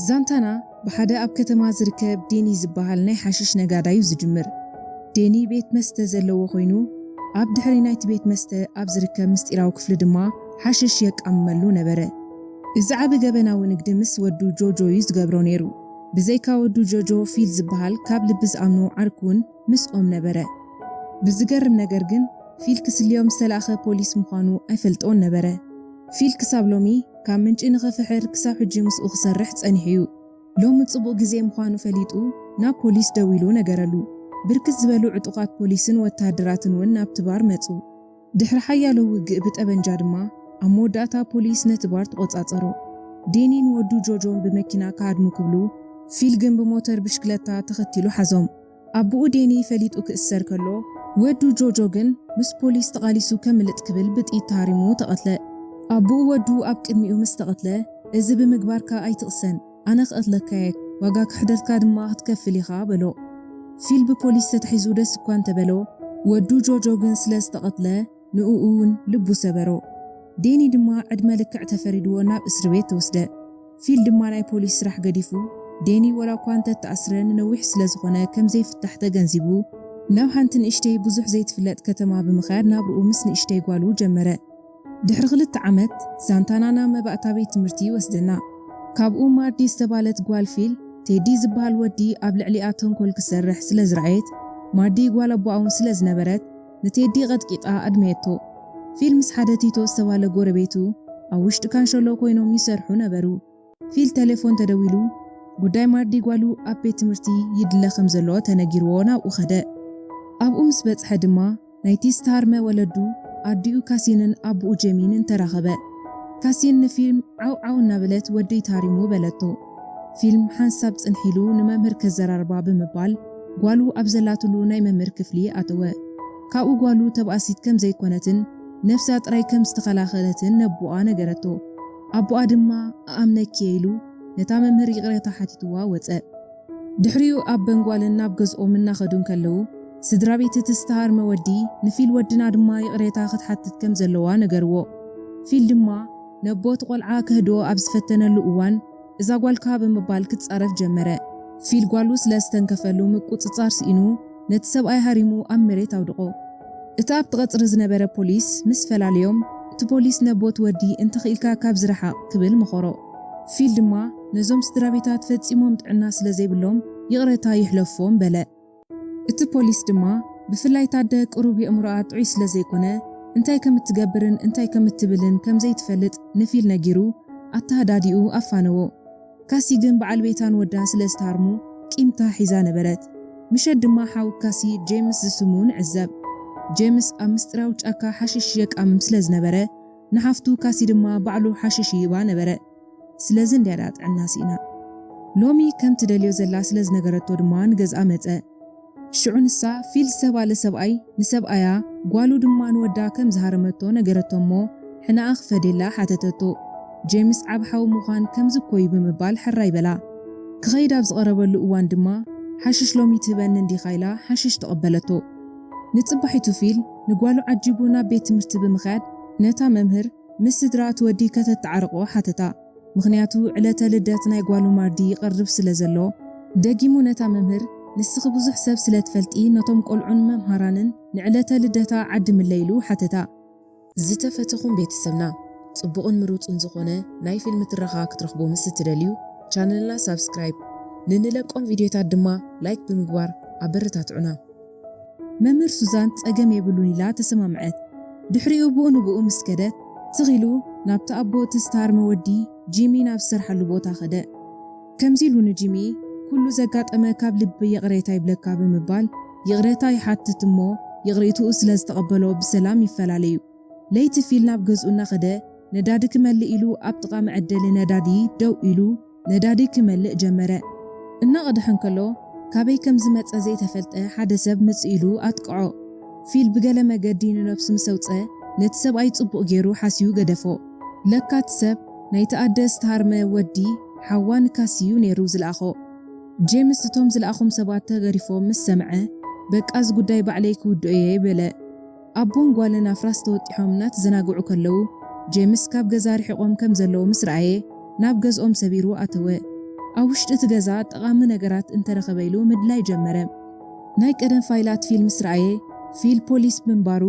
ዛንታና ብሓደ ኣብ ከተማ ዝርከብ ዴኒ ዝበሃል ናይ ሓሽሽ ነጋዳይ'ዩ ዝጅምር። ዴኒ ቤት መስተ ዘለዎ ኮይኑ፣ ኣብ ድሕሪ ናይቲ ቤት መስተ ኣብ ዝርከብ ምስጢራዊ ክፍሊ ድማ ሓሽሽ የቃምመሉ ነበረ። እዚ ዓቢ ገበናዊ ንግዲ ምስ ወዱ ጆጆ'ዩ ዝገብሮ ነይሩ። ብዘይካ ወዱ ጆጆ፣ ፊል ዝበሃል ካብ ልቢ ዝኣምኖ ዓርኩ'ውን፣ ምስኦም ነበረ። ብዝገርም ነገር ግን ፊል ክስልዮም ዝተላእከ ፖሊስ ምዃኑ ኣይፈልጦን ነበረ። ፊል ክሳብ ሎሚ ካብ ምንጪ ንኽፍሕር ክሳብ ሕጂ ምስኡ ክሰርሕ ጸኒሑ'ዩ። ሎሚ ጽቡቕ ግዜ ምዃኑ ፈሊጡ ናብ ፖሊስ ደዊሉ ነገረሉ። ብርክት ዝበሉ ዕጡቓት ፖሊስን ወተሃደራትን'ውን ናብቲ ባር መጹ። ድሕሪ ሓያሎ ውግእ ብጠበንጃ ድማ ኣብ መወዳእታ ፖሊስ ነቲ ባር ተቖጻጸሮ። ዴኒን ወዱ ጆጆን ብመኪና ክሃድሙ ክብሉ፣ ፊል ግን ብሞተር ብሽክለታ ተኸቲሉ ሓዞም። ኣቡኡ ዴኒ ፈሊጡ ክእሰር ከሎ፣ ወዱ ጆጆ ግን ምስ ፖሊስ ተቓሊሱ ከምልጥ ክብል ብጥይት ተሃሪሙ ተቐትለ። ኣቡኡ ወዱ ኣብ ቅድሚኡ ምስ ተቐትለ፣ እዚ ብምግባርካ ኣይትቕሰን! ኣነ ክቐትለካ'የ፣ ዋጋ ክሕደትካ ድማ ክትከፍል ኢኻ በሎ። ፊል ብፖሊስ ተታሒዙ ደስ እኳ እንተበሎ፣ ወዱ ጆርጆ ግን ስለ ዝተቐትለ ንኡ'ውን ልቡ ሰበሮ። ዴኒ ድማ ዕድመ ልክዕ ተፈሪድዎ ናብ እስርቤት ተወስደ። ፊል ድማ ናይ ፖሊስ ስራሕ ገዲፉ፣ ዴኒ ዋላ'ኳ እንተተኣስረ ንነዊሕ ስለ ዝኾነ ከም ዘይፍታሕ ተገንዚቡ፣ ናብ ሓንቲ ንእሽተይ ብዙሕ ዘይትፍለጥ ከተማ ብምኻድ ናብርኡ ምስ ንእሽተይ ጓሉ ጀመረ። ድሕሪ ክልተ ዓመት፣ ሳንታና ናብ መባእታ ቤት ትምህርቲ ይወስደና። ካብኡ ማርዲ ዝተባህለት ጓል ፊል፣ ቴዲ ዝበሃል ወዲ ኣብ ልዕሊኣ ተንኮል ክሰርሕ ስለ ዝረኣየት፣ ማርዲ ጓል ኣቦኣ'ውን ስለ ዝነበረት ንቴዲ ቀጥቂጣ ኣድመየቶ። ፊል ምስ ሓደ ቲቶ ዝተባህለ ጎረቤቱ ኣብ ውሽጢ ካንሸሎ ኮይኖም ይሰርሑ ነበሩ። ፊል ተሌፎን ተደዊሉ ጉዳይ ማርዲ ጓሉ ኣብ ቤት ትምህርቲ ይድለ ከም ዘሎ ተነጊርዎ ናብኡ ከደ። ኣብኡ ምስ በጽሐ ድማ ናይቲ ዝተሃርመ ወለዱ ኣዲኡ ካሲንን ኣቡኡ ጄሚን ን ተራኸበ። ካሲን ንፊልም ዓው ዓው እናበለት ወደይ ተሃሪሙ በለቶ። ፊልም ሓንሳብ ጽንሕ ኢሉ ንመምህር ከዘራርባ ብምባል ጓሉ ኣብ ዘላትሉ ናይ መምህር ክፍሊ ኣተወ። ካብኡ ጓሉ ተባእሲት ከም ዘይኮነትን ነብሳ ጥራይ ከም ዝተኸላኸለትን ነቡኣ ነገረቶ። ኣቦኣ ድማ እኣምነኪ'የ ኢሉ ነታ መምህር ይቕሬታ ሓቲትዋ ወጸ። ድሕሪኡ ኣብ በንጓልን ናብ ገዝኦም እናኸዱ እንከለዉ፣ ስድራቤት እቲ ዝተሃርመ ወዲ ንፊል ወድና ድማ ይቕሬታ ክትሓትት ከም ዘለዋ ነገርዎ። ፊል ድማ ነቦ እቲ ቆልዓ ከህድኦ ኣብ ዝፈተነሉ እዋን፣ እዛ ጓልካ ብምባል ክጻረፍ ጀመረ። ፊል ጓሉ ስለ ዝተንከፈሉ ምቁጽጻር ስኢኑ ነቲ ሰብኣይ ሃሪሙ ኣብ መሬት ኣውድቖ። እቲ ኣብቲ ቀጽሪ ዝነበረ ፖሊስ ምስ ፈላለዮም፣ እቲ ፖሊስ ነቦት ወዲ እንተኽኢልካ ካብዚ ረሓቕ ክብል መኸሮ። ፊል ድማ ነዞም ስድራቤታት ፈጺሞም ጥዕና ስለ ዘይብሎም ይቕረታ ይሕለፎም በለ። እቲ ፖሊስ ድማ ብፍላይ እታ ኣደ ቅሩብ የእምሮኣ ጥዑይ ስለዘይኮነ እንታይ ከም እትገብርን እንታይ ከም እትብልን ከም ዘይትፈልጥ ንፊል ነጊሩ ኣተሃዳዲኡ ኣፋነዎ። ካሲ ግን በዓል ቤታን ወዳ ስለ ዝተሃርሙ ቂምታ ሒዛ ነበረት። ምሸት ድማ ሓው ካሲ ጄምስ ዝስሙ ንዕዘብ። ጄምስ ኣብ ምስጢራዊ ጫካ ሓሽሽ የቃምም ስለ ዝነበረ ንሓፍቱ ካሲ ድማ ባዕሉ ሓሽሽ ይህባ ነበረ። ስለዚ እንድያ ድኣ ጥዕና ስኢና። ሎሚ ከም ትደልዮ ዘላ ስለ ዝነገረቶ ድማ ንገዝኣ መጸ። ሽዑ ንሳ ፊል ዝተባለ ሰብኣይ ንሰብኣያ ጓሉ ድማ ንወዳ ከም ዝሃረመቶ ነገረቶ እሞ ሕነኣ ክፈድየላ ሓተተቶ። ጄምስ ዓቢ ሓው ምዃን ከምዚ እኮ'ዩ ብምባል ሕራይ በላ። ክኸይድ ኣብ ዝቐረበሉ እዋን ድማ ሓሽሽ ሎሚ ትህበኒ እንዲኻ ኢላ ሓሽሽ ተቐበለቶ። ንጽባሒቱ ፊል ንጓሉ ዓጂቡ ናብ ቤት ትምህርቲ ብምኽያድ ነታ መምህር፣ ምስ ስድራ እቲ ወዲ ከተተዓርቆ ሓትታ ምኽንያቱ ዕለተ ልደት ናይ ጓሉ ማርዲ ይቐርብ ስለ ዘሎ። ደጊሙ ነታ መምህር፣ ንስኺ ብዙሕ ሰብ ስለ ትፈልጢ ነቶም ቆልዑን መምሃራንን ንዕለተ ልደታ ዓድምለይ ኢሉ ሓተታ። ዝተፈተኹም ቤተሰብና ጽቡቕን ምሩጽን ዝኾነ ናይ ፊልም ትረኻ ክትረኽቡ ምስ እትደልዩ ቻነልና ሳብስክራይብ፣ ንንለቆም ቪድዮታት ድማ ላይክ ብምግባር ኣበረታትዑና። መምህር ሱዛን ጸገም የብሉን ኢላ ተሰማምዐት። ድሕሪኡ ብኡ ንብኡ ምስ ከደ፣ ትኽ ኢሉ ናብቲ ኣቦ እቲ ዝተሃርመ ወዲ ጂሚ ናብ ዝሰርሓሉ ቦታ ከደ። ከምዚ ኢሉ ንጂሚ ኩሉ ዘጋጠመ ካብ ልቢ ይቕሬታ ይብለካ ብምባል ይቕሬታ ይሓትት እሞ ይቕሬትኡ ስለ ዝተቐበሎ ብሰላም ይፈላለዩ። ለይቲ ፊል ናብ ገዝኡ እናኸደ ነዳዲ ክመልእ ኢሉ ኣብ ጥቓ መዐደሊ ነዳዲ ደው ኢሉ፣ ነዳዲ ክመልእ ጀመረ። እናቐድሐ እንከሎ፣ ካበይ ከም ዝመጸ ዘይተፈልጠ ሓደ ሰብ ምጽእ ኢሉ ኣጥቅዖ። ፊል ብገለ መገዲ ንነብሱ ምስ ኣውጽኣ፣ ነቲ ሰብኣይ ጽቡቕ ገይሩ ሓስዩ ገደፎ። ለካ እቲ ሰብ፣ ናይቲ ኣደ ዝተሃርመ ወዲ ሓዋ ንካሲ እዩ ነይሩ ዝልኣኾ። ጄምስ እቶም ዝልኣኾም ሰባት ተገሪፎም ምስ ሰምዐ፣ በቃ እዚ ጉዳይ ባዕለይ ክውድኦ'የ በለ። ኣቦን ጓልን ኣፍራስ ተወጢሖም እናተዘናግዑ ከለዉ፣ ጄምስ ካብ ገዛ ርሒቖም ከም ዘለዉ ምስ ረኣየ፣ ናብ ገዝኦም ሰቢሩ ኣተወ። ኣብ ውሽጢ እቲ ገዛ ጠቓሚ ነገራት እንተ ረኸበ ኢሉ ምድላይ ጀመረ። ናይ ቀደም ፋይላት ፊል ምስ ረኣየ፣ ፊል ፖሊስ ምንባሩ፣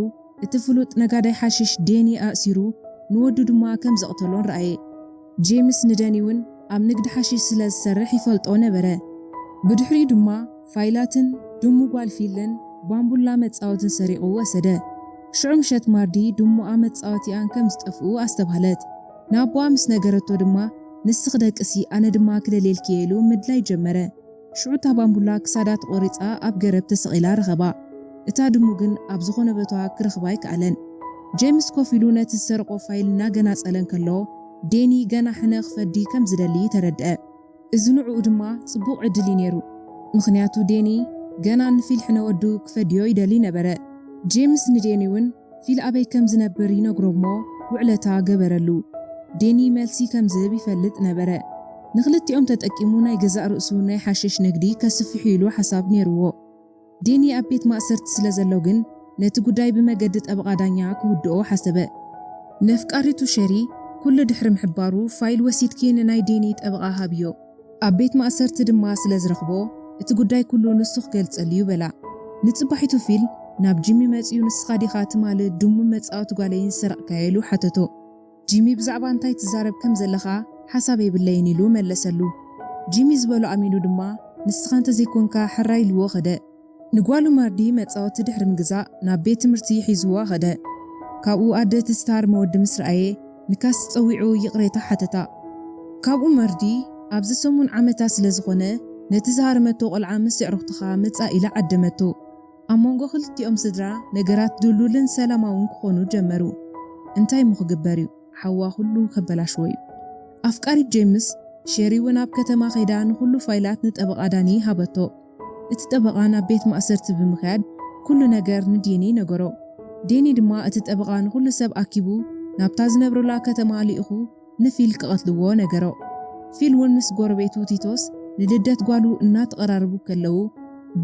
እቲ ፍሉጥ ነጋዳይ ሓሽሽ ዴኒ ኣእሲሩ፣ ንወዱ ድማ ከም ዘቕተሎን ረኣየ። ጄምስ ንደኒ'ውን ኣብ ንግዲ ሓሺሽ ስለ ዝሰርሕ ይፈልጦ ነበረ። ብድሕሪኡ ድማ ፋይላትን ድሙ ጓል ፊልን ባምቡላ መጻወትን ሰሪቑ ወሰደ። ሽዑ ምሸት ማርዲ ድሙኣ መጻወቲኣን ከም ዝጠፍኡ ኣስተብሃለት። ንኣቦኣ ምስ ነገረቶ ድማ ንስኺ ደቅሲ ኣነ ድማ ክደልየልኪ'የ ኢሉ ምድላይ ጀመረ። ሽዑ እታ ባምቡላ ክሳዳ ተቖሪጻ ኣብ ገረብ ተሰቒላ ረኸባ። እታ ድሙ ግን ኣብ ዝኾነ ቦታ ክረኽባ ኣይከኣለን። ጀይምስ ኮፍ ኢሉ ነቲ ዝሰረቖ ፋይል እናገናጸለ እንከሎ፣ ዴኒ ገና ሕነ ክፈዲ ከም ዝደሊ ተረድኣ። እዚ ንዕኡ ድማ ጽቡቕ ዕድል እዩ ነይሩ፣ ምኽንያቱ ዴኒ ገና ንፊል ሕነ ወዱ ክፈድዮ ይደሊ ነበረ። ጀይምስ ንዴኒ'ውን ፊል ኣበይ ከም ዝነብር ይነግሮ'ሞ ውዕለታ ገበረሉ። ዴኒ መልሲ ከም ዝህብ ይፈልጥ ነበረ። ንኽልቲኦም ተጠቂሙ ናይ ገዛእ ርእሱ ናይ ሓሽሽ ንግዲ ከስፍሕ'ዩ ኢሉ ሓሳብ ኔርዎ። ዴኒ ኣብ ቤት ማእሰርቲ ስለ ዘሎ ግን ነቲ ጉዳይ ብመገዲ ጠበቓ ዳኛ ክውድኦ ሓሰበ። ነፍቃሪቱ ሸሪ ኩሉ ድሕሪ ምሕባሩ ፋይል ወሲድኪ ንናይ ዴኒ ጠበቓ ሃብዮ። ኣብ ቤት ማእሰርቲ ድማ ስለ ዝረኽቦ እቲ ጉዳይ ኩሉ ንሱ ክገልጸሉ'ዩ በላ። ንጽባሒቱ ፊል ናብ ጂሚ መጺኡ ንስኻ ዲኻ ትማል ድሙም መጻወቲ ጓለይን ዝሰረቕካዮ ኢሉ ሓተቶ። ጂሚ ብዛዕባ እንታይ ትዛረብ ከም ዘለኻ ሓሳብ የብለይን ኢሉ መለሰሉ። ጂሚ ዝበሎ ኣሚኑ ድማ ንስኻ እንተዘይኮንካ ሕራይ ኢልዎ ከደ። ንጓሉ ማርዲ መጻወቲ ድሕሪ ምግዛእ ናብ ቤት ትምህርቲ ሒዝዋ ከደ። ካብኡ ኣደ እቲ ዝትሃርመ ወዲ ምስ ረኣየ ንካሲ ጸዊዑ ይቕሬታ ሓተታ። ካብኡ ማርዲ ኣብዚ ሰሙን ዓመታ ስለ ዝኾነ ነቲ ዝሃረመቶ ቆልዓ ምስ የዕሩኽትኻ ምጻእ ኢላ ዓደመቶ። ኣብ መንጎ ክልቲኦም ስድራ ነገራት ድልዱልን ሰላማውን ክኾኑ ጀመሩ። እንታይ እሞ ክግበር እዩ ሓዋ ኩሉ ከበላሽዎ እዩ። ኣፍቃሪት ጄምስ ሼሪ እውን ኣብ ከተማ ከይዳ ንኹሉ ፋይላት ንጠበቓ ዳኒ ሃበቶ። እቲ ጠበቓ ናብ ቤት ማእሰርቲ ብምኽያድ ኩሉ ነገር ንዴኒ ነገሮ። ዴኒ ድማ እቲ ጠበቓ ንኹሉ ሰብ ኣኪቡ ናብታ ዝነብሩላ ከተማ ልኢኹ ንፊል ክቐትልዎ ነገሮ። ፊል ውን ምስ ጎረቤቱ ቲቶስ ንልደት ጓሉ እናተቐራረቡ ከለዉ፣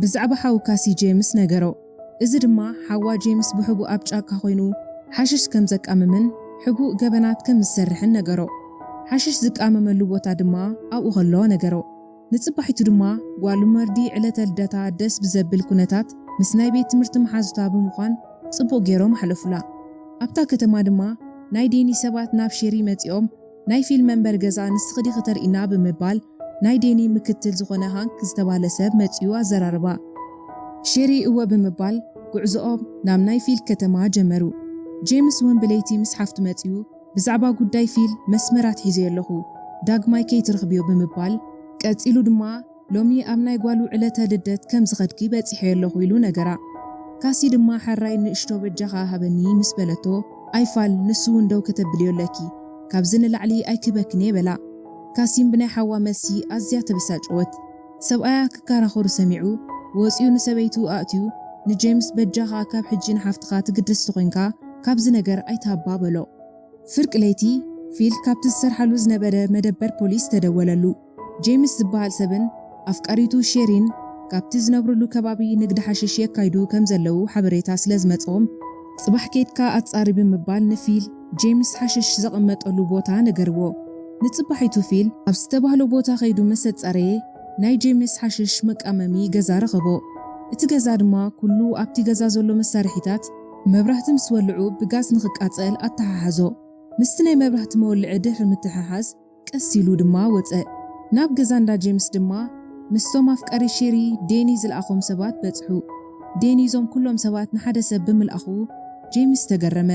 ብዛዕባ ሓው ካሲ ጄምስ ነገሮ። እዚ ድማ ሓዋ ጄምስ ብሕቡእ ኣብ ጫካ ኮይኑ ሓሽሽ ከም ዘቃምምን ሕቡእ ገበናት ከም ዝሰርሕን ነገሮ። ሓሽሽ ዝቃመመሉ ቦታ ድማ ኣብኡ ከሎ ነገሮ። ንጽባሒቱ ድማ ጓል መርዲ ዕለተ ልደታ ደስ ብዘብል ኩነታት ምስ ናይ ቤት ትምህርቲ መሓዙታ ብምዃን ጽቡቕ ጌሮም ኣሕለፉላ። ኣብታ ከተማ ድማ ናይ ዴኒ ሰባት ናብ ሼሪ መጺኦም ናይ ፊልም መንበሪ ገዛ ንስኺ ዲኺ ተርእይና ብምባል ናይ ዴኒ ምክትል ዝኾነ ሃንክ ዝተባህለ ሰብ መጺኡ ኣዘራረባ። ሼሪ እወ ብምባል ጉዕዞኦም ናብ ናይ ፊል ከተማ ጀመሩ። ጄምስ ውን ብለይቲ ምስ ሓፍቱ መጺኡ ብዛዕባ ጉዳይ ፊል መስመር ኣትሒዘዮ ኣለኹ፣ ዳግማይ ከይትረኽብዮ ብምባል፣ ቀጺሉ ድማ ሎሚ ኣብ ናይ ጓሉ ዕለተ ልደት ከም ዝኸድኪ በጺሐዮ ኣለኹ ኢሉ ነገራ። ካሲ ድማ ሐራይ ንእሽቶ በጃኻ ሃበኒ ምስ በለቶ፣ ኣይ ፋል ንሱ ውን ደው ከተብልዮ ኣለኪ፣ ካብዚ ንላዕሊ ኣይክህበክን'የ በላ። ካሲም ብናይ ሓዋ መልሲ ኣዝያ ተበሳጨወት። ሰብኣያ ክከራኸሩ ሰሚዑ ወጺኡ ንሰበይቱ ኣእትዩ ንጀምስ በጃኻ ካብ ሕጂ ንሓፍትኻ ትግደስ ተኾይንካ ካብዚ ነገር ኣይትሃባ በሎ። ፍርቂ ለይቲ ፊል ካብቲ ዝሰርሓሉ ዝነበረ መደበር ፖሊስ ተደወለሉ። ጀምስ ዝበሃል ሰብን ኣፍቃሪቱ ሼሪን ካብቲ ዝነብርሉ ከባቢ ንግዲ ሓሽሽ የካይዱ ከምዘለዉ ሓበሬታ ስለዝመጽኦም፣ ጽባሕ ኬድካ ኣጻሪ ብምባል ንፊል፣ ጄምስ ሓሽሽ ዘቐመጠሉ ቦታ ነገርዎ። ንጽባሒቱ ፊል ኣብ ዝተባህሎ ቦታ ከይዱ ምስ ኣጻረየ፣ ናይ ጄምስ ሓሽሽ መቃመሚ ገዛ ረኸቦ። እቲ ገዛ ድማ ኩሉ ኣብቲ ገዛ ዘሎ መሳርሒታት መብራህቲ ምስ ወልዑ ብጋዝ ንኽቃጸል ኣተሓሓዞ። ምስቲ ናይ መብራህቲ መወልዒ ድሕሪ ምትሕሓዝ፣ ቀስ ኢሉ ድማ ወጸ። ናብ ገዛ እንዳ ጄምስ ድማ ምስቶም ኣፍቀሪ ሼሪ ዴኒ ዝልኣኾም ሰባት በጽሑ። ዴኒ እዞም ኩሎም ሰባት ንሓደ ሰብ ብምልኣኹ ጄምስ ተገረመ።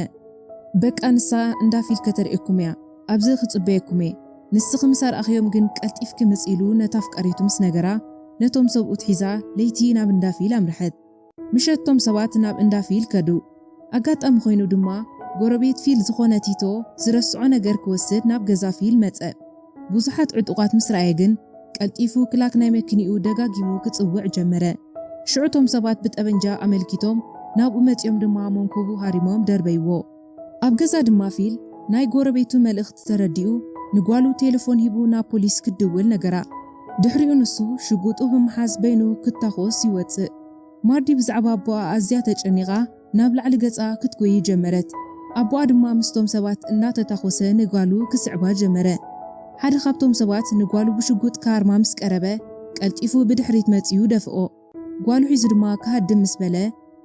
በቃ ንሳ እንዳ ፊል ከተርእየኩም እያ፣ ኣብዚ ክጽበየኩም እየ፣ ንስኺ ምስ ኣርኣኽዮም ግን ቀልጢፍኪ ምጺ ኢሉ ነታ ኣፍቃሪቱ ምስ ነገራ ነቶም ሰብኡት ሒዛ ለይቲ ናብ እንዳ ፊል ኣምርሐት። ምሸት እቶም ሰባት ናብ እንዳ ፊል ከዱ። ኣጋጣሚ ኮይኑ ድማ ጎረቤት ፊል ዝኾነ ቲቶ ዝረስዖ ነገር ክወስድ ናብ ገዛ ፊል መጸ። ብዙሓት ዕጡቓት ምስ ረኣየ ግን ቀልጢፉ ክላክ ናይ መኪንኡ ደጋጊሙ ክጽውዕ ጀመረ። ሽዑ እቶም ሰባት ብጠበንጃ ኣመልኪቶም ናብኡ መጺኦም ድማ መንኩቡ ሃሪሞም ደርበይዎ። ኣብ ገዛ ድማ ፊል ናይ ጎረቤቱ መልእኽቲ ተረዲኡ ንጓሉ ቴለፎን ሂቡ ናብ ፖሊስ ክትድውል ነገራ። ድሕሪኡ ንሱ ሽጉጡ ብምሓዝ በይኑ ክታኾስ ይወጽእ። ማርዲ ብዛዕባ ኣቦኣ ኣዝያ ተጨኒቓ ናብ ላዕሊ ገጻ ክትጎዪ ጀመረት። ኣቦኣ ድማ ምስቶም ሰባት እናተታኾሰ ንጋሉ ክስዕባ ጀመረ። ሓደ ካብቶም ሰባት ንጓሉ ብሽጉጥ ክሃርማ ምስ ቀረበ ቀልጢፉ ብድሕሪት መጺኡ ደፍኦ። ጓሉ ሒዙ ድማ ክሃድም ምስ በለ፣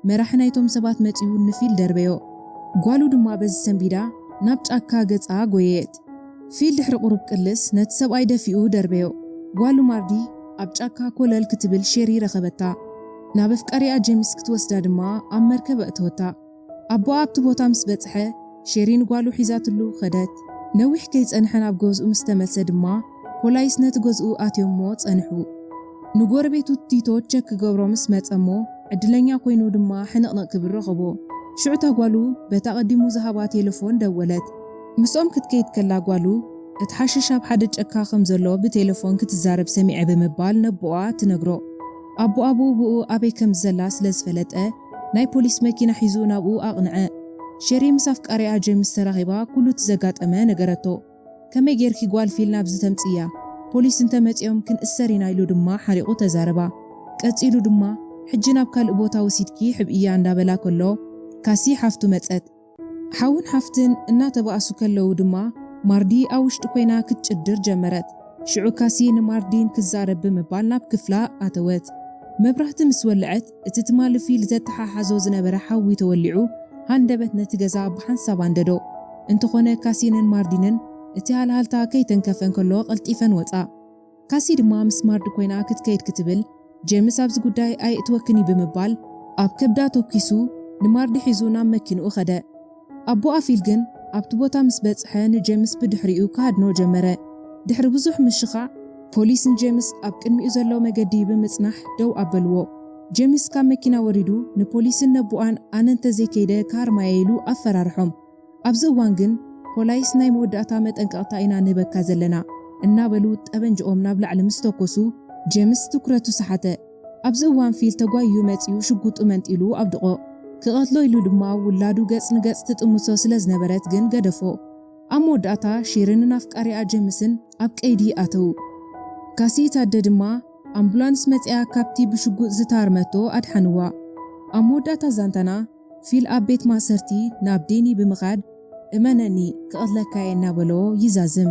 መራሒ ናይቶም ሰባት መጺኡ ንፊል ደርበዮ። ጓሉ ድማ በዚ ሰንቢዳ ናብ ጫካ ገጻ ጎየየት። ፊል ድሕሪ ቁሩብ ቅልስ ነቲ ሰብኣይ ደፊኡ ደርበዮ። ጓሉ ማርዲ ኣብ ጫካ ኮለል ክትብል ሼሪ ረኸበታ። ናብ ኣፍቃሪኣ ጄምስ ክትወስዳ ድማ ኣብ መርከብ ኣእተወታ። ኣቦኣ ኣብቲ ቦታ ምስ በጽሐ፣ ሼሪ ንጓሉ ሒዛትሉ ከደት። ነዊሕ ከይጸንሐ ናብ ገዝኡ ምስ ተመልሰ ድማ፣ ፖላይስ ነቲ ገዝኡ ኣትዮምዎ ጸንሑ። ንጎረቤቱ ቲቶ ቸክ ክገብሮ ምስ መጸ'ሞ፣ ዕድለኛ ኮይኑ ድማ ሕንቕንቕ ክብል ረኸቦ። ሽዑ እታ ጓሉ በቲ ኣቐዲሙ ዝሃባ ቴለፎን ደወለት። ምስኦም ክትከይድ ከላ ጓሉ፣ እቲ ሓሽሽ ኣብ ሓደ ጨካ ከም ዘሎ ብቴለፎን ክትዛረብ ሰሚዐ ብምባል ነቦኣ ትነግሮ። ኣቦኣ ብኡብኡ ኣበይ ከም ዘላ ስለ ዝፈለጠ፣ ናይ ፖሊስ መኪና ሒዙ ናብኡ ኣቕንዐ። ሸሪ ምስ ኣፍቃሪኣ ጀምስ ተራኺባ ኩሉ እቲ ዘጋጠመ ነገረቶ። ከመይ ጌርኪ ጓል ፊል ናብዚ ተምጽእያ? ፖሊስ እንተ መጺኦም ክንእሰር ኢና ኢሉ ድማ ሓሪቑ ተዛረባ። ቀጺሉ ድማ ሕጂ ናብ ካልእ ቦታ ወሲድኪ ሕብእያ እንዳበላ ከሎ ካሲ ሓፍቱ መጸት። ሓውን ሓፍትን እናተባእሱ ከለዉ ድማ ማርዲ ኣብ ውሽጢ ኮይና ክትጭድር ጀመረት። ሽዑ ካሲ ንማርዲን ክዛረብ ብምባል ናብ ክፍላ ኣተወት። መብራህቲ ምስ ወልዐት እቲ ትማሊ ፊል ዘተሓሓዞ ዝነበረ ሓዊ ተወሊዑ ሃንደበት ነቲ ገዛ ብሓንሳብ ኣንደዶ። እንተኾነ ካሲንን ማርዲንን እቲ ሃልሃልታ ከይተንከፈ እንከሎ ቀልጢፈን ወጻ። ካሲ ድማ ምስ ማርድ ኮይና ክትከይድ ክትብል ጄምስ ኣብዚ ጉዳይ ኣየእትወክን እዩ ብምባል ኣብ ከብዳ ተኲሱ ንማርድ ሒዙ ናብ መኪንኡ ከደ። ኣቦኣ ፊል ግን ኣብቲ ቦታ ምስ በጽሐ ንጄምስ ብድሕሪኡ ክሃድኖ ጀመረ። ድሕሪ ብዙሕ ምሽኻዕ ፖሊስ ንጄምስ ኣብ ቅድሚኡ ዘሎ መገዲ ብምጽናሕ ደው ኣበልዎ። ጄምስ ካብ መኪና ወሪዱ ንፖሊስን ነቦኣን ኣነ እንተዘይከይደ ክሃርማ'የ ኢሉ ኣፈራርሖም። ኣብዚ እዋን ግን ፖላይስ ናይ መወዳእታ መጠንቀቕታ ኢና ንህበካ ዘለና፣ እናበሉ ጠበንጅኦም ናብ ላዕሊ ምስ ተኮሱ፣ ጄምስ ትኩረቱ ሰሓተ። ኣብዚ እዋን ፊል ተጓይዩ መጺኡ ሽጉጡ መንጢሉ ኣብድቖ። ክቐትሎ ኢሉ ድማ ውላዱ ገጽ ንገጽ ትጥምቶ ስለ ዝነበረት ግን ገደፎ። ኣብ መወዳእታ ሺርንን ኣፍቃሪኣ ጄምስን ኣብ ቀይዲ ኣተዉ። ካሲት ኣደ ድማ ኣምቡላንስ መጺኣ ካብቲ ብሽጉጥ ዝተሃርመቶ ኣድሓንዋ። ኣብ መወዳእታ ዛንታና፣ ፊል ኣብ ቤት ማእሰርቲ ናብ ዴኒ ብምኻድ እመነኒ ክቐትለካ'የ እናበሎ ይዛዝም።